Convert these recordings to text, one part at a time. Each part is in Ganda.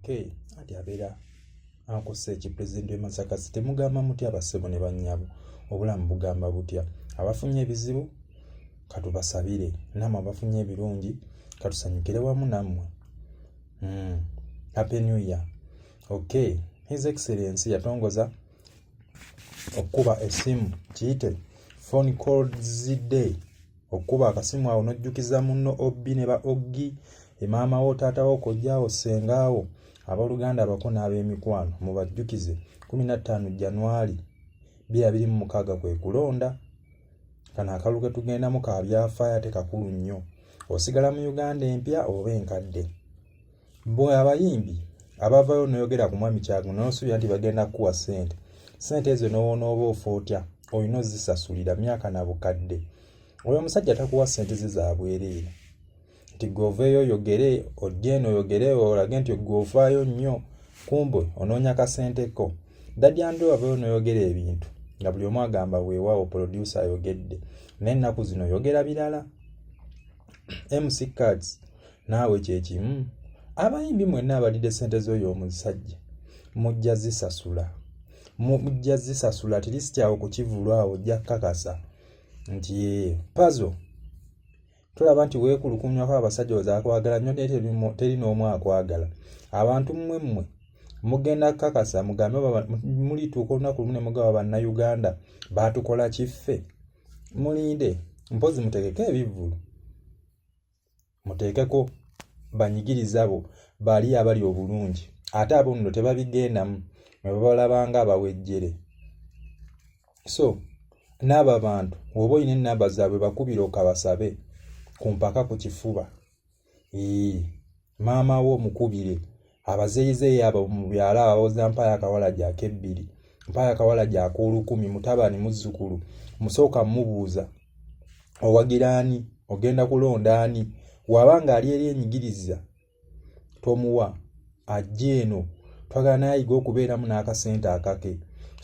okay anti abeera akosa eki president we masaka sitemugamba mutya abasebo ne banyabo obulamu bugamba butya abafunye ebizibu katubasabire namwe abafunye ebirungi katusanyukire wamu namwe mm. happy new year okay his excellence yatongoza okukuba esimu kiyite phone call zday okukuba akasimu awo n'ojjukiza munno obbi ne ba oggi emaama wo taata wo kojjaawo ssengaawo abooluganda abako n'ab'emikwano mubajjukize 15 januali 2026 kwe kulonda kano akalulu ke tugendamu ka byafaayo ate kakulu nnyo osigala mu uganda empya oba enkadde Mbu abayimbi abavayo noyogera ku mwami Kyagu n'osuubira nti bagenda kukuwa ssente. Ssente ezo n'onooba ofa otya? Olina ozisasulira myaka na bukadde. Oyo omusajja takuwa ssente ze za bwereere. Nti ggwe oveeyo oyogere, ojje eno oyogere olage nti ggwe ovaayo nnyo, kumbe onoonya kasente ko. Daddy Andrew avayo noyogera ebintu nga buli omu agamba weewaawo polodyusa ayogedde. Naye ennaku zino oyogera birala. MC Cards naawe kyekimu abayimbi mwenna abalidde sente z'oyo omusajja mujja zisasula mujja zisasula tilisikyawo kukivulu awo ojja kukakasa nti ee pazo tolaba nti weekulukunyako abasajja ozakwagala nyo naye teri n'omu akwagala abantu mmwe mmwe mugenda kukakasa mugambe mulituuka olunaku lumu ne mugaba bannayuganda baatukola kiffe mulinde mpozi mutegeke ebivvulu muteekeko banyigiriza abo bali abali obulungi ate abo nno tebabigendamu mwe babalabanga abawejjere so n'abo abantu woba olina enamba zaabwe bakubira okabasabe ku mpaka ku kifuba ee maama wo mukubire abazeeyizeeyi abo mu byalo abawoza mpaayo akawala gyako ebbiri mpaayo akawala gyako olukumi mutabani muzzukulu musooka mubuuza owagira ani ogenda kulonda ani waba ng'ali eri enyigiriza tomuwa ajja eno twagala nayiga okubeeramu n'akasente akake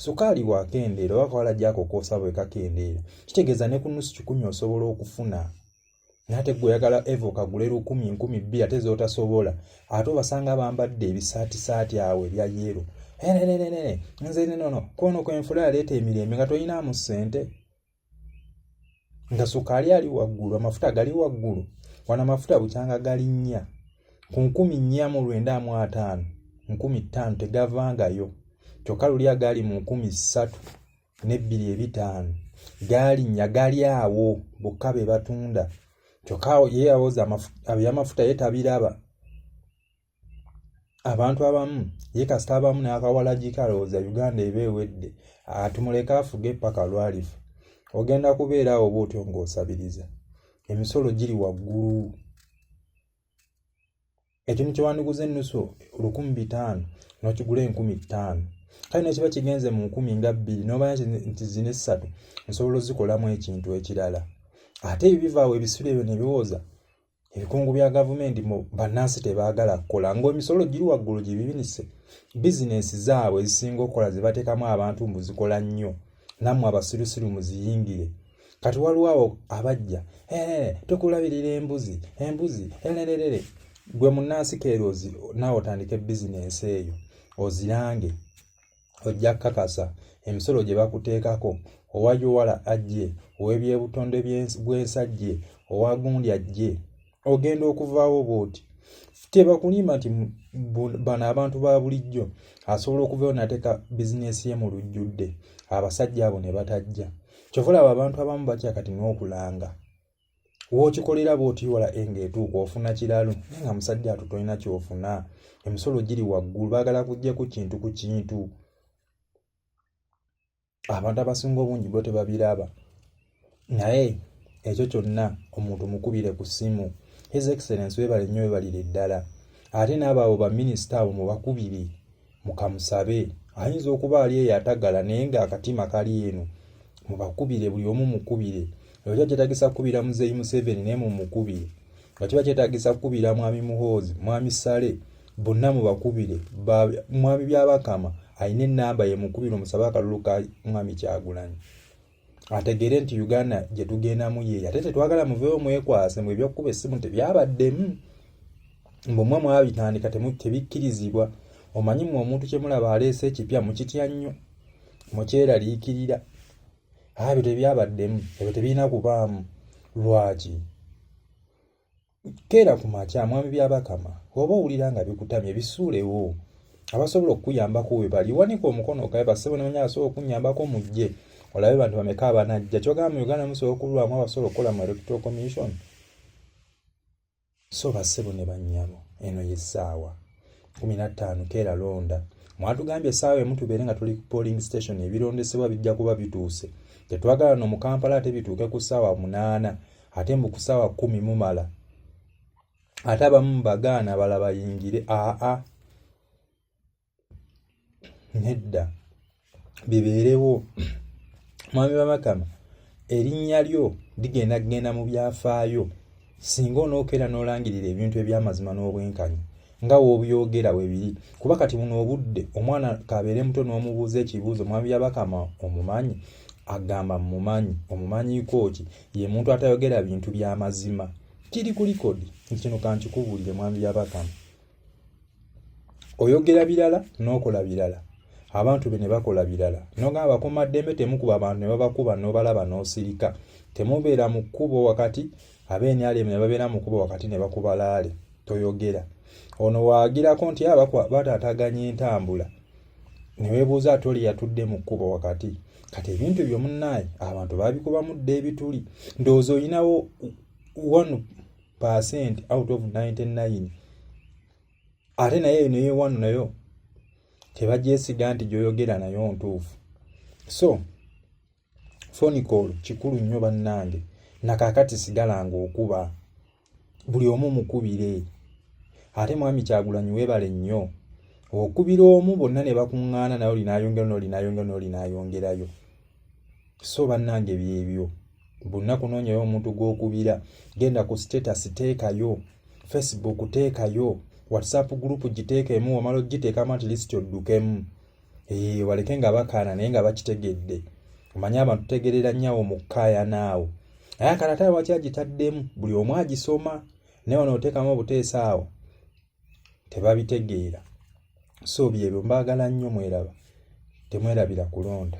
sukaali wakendeera oba kawala gyako koosa bwe kakendeera kitegeeza ne ku nusu kikumi osobola okufuna nate gwe oyagala eva okagula erukumi nkumi bbiri ate zotasobola ate obasanga bambadde ebisaatisaati awo ebya yeero enenenene nze nenono kwono kwenfula yaleeta emirembe nga toyinaamu ssente nga sukaali ali waggulu amafuta gali waggulu wano amafuta bukyanga gali nnya ku nkumi nnya mu lwenda mu ataano nkumi ttaano tegavangayo kyokka luli agaali mu nkumi ssatu n'ebbiri ebitaano gaalinnya gali awo bokka be batunda kyokka awo ye yawoza ebyamafuta ye tabiraba abantu abamu ye kasita abamu n'akawalagika alowooza uganda eba ewedde atumuleka afuge paka lwalifa ogenda kubeera awo oba otyo ng'osabiriza emisolo giri waggulu ekintu kyewandiguza ennusu lukumi bitaano nokigula enkumi ttaano kale nekiba kigenze mu nkumi nga bbiri nobaya nti zina essatu nsobola ozikolamu ekintu ekirala ate ebyo bivaawo ebisula ebyo nebiwooza ebikungu bya gavumenti bannansi tebaagala kukola ngaemisolo giri waggulu gyebibinise bizinensi zaabwe ezisinga okukola zebateekamu abantu mbu zikola nnyo nammwe abasirusiru muziyingire kati waliwo awo abajja tukulabirira embuzi embuzi erererere gwe munnansi keero naawe otandike bizinensi eyo ozirange ojja kukakasa emisolo gye bakuteekako owa yuwala ajje ow'ebyebutonde bw'ensi ajje owa gundi ajje ogenda okuvaawo bwoti tebakulimba nti bano abantu ba bulijjo asobola okuvayo nateeka bizinesi ye mu lujjudde abasajja abo ne batajja kyova olaba abantu abamu batya kati n'okulanga wokikolera bwotiwala enga etuuka ofuna kiralu naye nga musajja ato tolina kyofuna emisolo giri waggulu baagala kujja ku kintu ku kintu abantu abasinga obungi bo tebabiraba naye ekyo kyonna omuntu mukubire ku ssimu his excellence webale nnyo webalire ddala ate n'abaabo baminisita abo mubakubire mukamusabe ayinza okuba ali eyo atagala naye nga akatima kali eno mubakubire buli omu mukubire ekyo kyetagisa kukubira muzeeyi museveni naye mumukubire nga kiba kyetagisa kukubira mwami muhoozi mwami sale bonna mubakubire mwami byabakama alina enamba yemukubira omusabe akalulu ka mwami kyagulanyi ategeere nti uganda gyetugendamu yeeyo ate tetwagala muveewo mwekwase mwe ebyokukuba essimu tebyabaddemu mbumwe mwabitandika tebikkirizibwa omanyi mwe omuntu kyemulaba aleese ekipya mukitya nnyo mukyeraliikirira ebyo tebyabaddemu ebyo tebirina kubaamu lwaki keera ku makya mwami byabakama oba owulira nga bikutamye bisuulewo abasobola okukuyambako webali wanika omukono okabe basebo nemanya asobola okunyambako mujje olabe bantu bameka abanajja kyogamba mu uganda musobola okulwamu abasobola okukola mu electoral commission so bassebo ne bannyabo eno ye ssaawa kumi na ttaano keera londa mwatugambye essaawa emu tubeere nga tuli ku polling station ebirondesebwa bijja kuba bituuse tetwagala no mu kampala ate bituuke ku ssaawa munaana ate mbu ku ssaawa kumi mumala ate abamu bagaana bala bayingire aa nedda bibeerewo mwami wamakama erinnya lyo ligenda kugenda mu byafaayo singa onookeera n'olangirira ebintu eby'amazima n'obwenkanya nga w'obyogera we biri kuba kati buno obudde omwana kabeere muto n'omubuuza ekibuuzo mwami yabakama omumanyi agamba mumanyi omumanyiiko ki ye muntu atayogera bintu by'amazima kiri ku likodi nti kino kankikubuulire mwami yabakama oyogera birala n'okola birala abantu be ne bakola birala nogamba bakuuma ddembe temukuba abantu ne babakuba n'obalaba n'osirika temubeera mu kkubo wakati ab'enyalemu ne babeera mu kkubo wakati ne bakuba laale toyogera ono waagirako nti aba ah, bataataganya entambula ne weebuuza ati oli yatudde mu kkubo wakati kati ebintu ebyo munnaaye abantu babikubamu dda ebituli ndowooza olinawo one percent out of 99 ate naye eno yewano nayo tebagyesiga nti gyoyogera nayo ntuufu so fonicol kikulu nnyo bannange nakakati sigala nga okuba buli omu mukubire ate mwami kyagulanyi webale nnyo okubira omu bonna ne bakuŋŋaana naye olinayongera nolinayongera nolinayongerayo so bannange byebyo bonna kunoonyayo omuntu gw'okubira genda ku status teekayo facebook teekayo whatsapp group giteekeemu wamala ogiteekamu at least oddukemu ee waleke nga bakaana naye nga bakitegedde omanye abantu tegerera nnyawo mu kkaayana awo naye akanataayo waki agitaddemu buli omu agisoma naye ono oteekamu obuteesa awo tebabitegeera so byebyo mbaagala nnyo mweraba temwerabira kulonda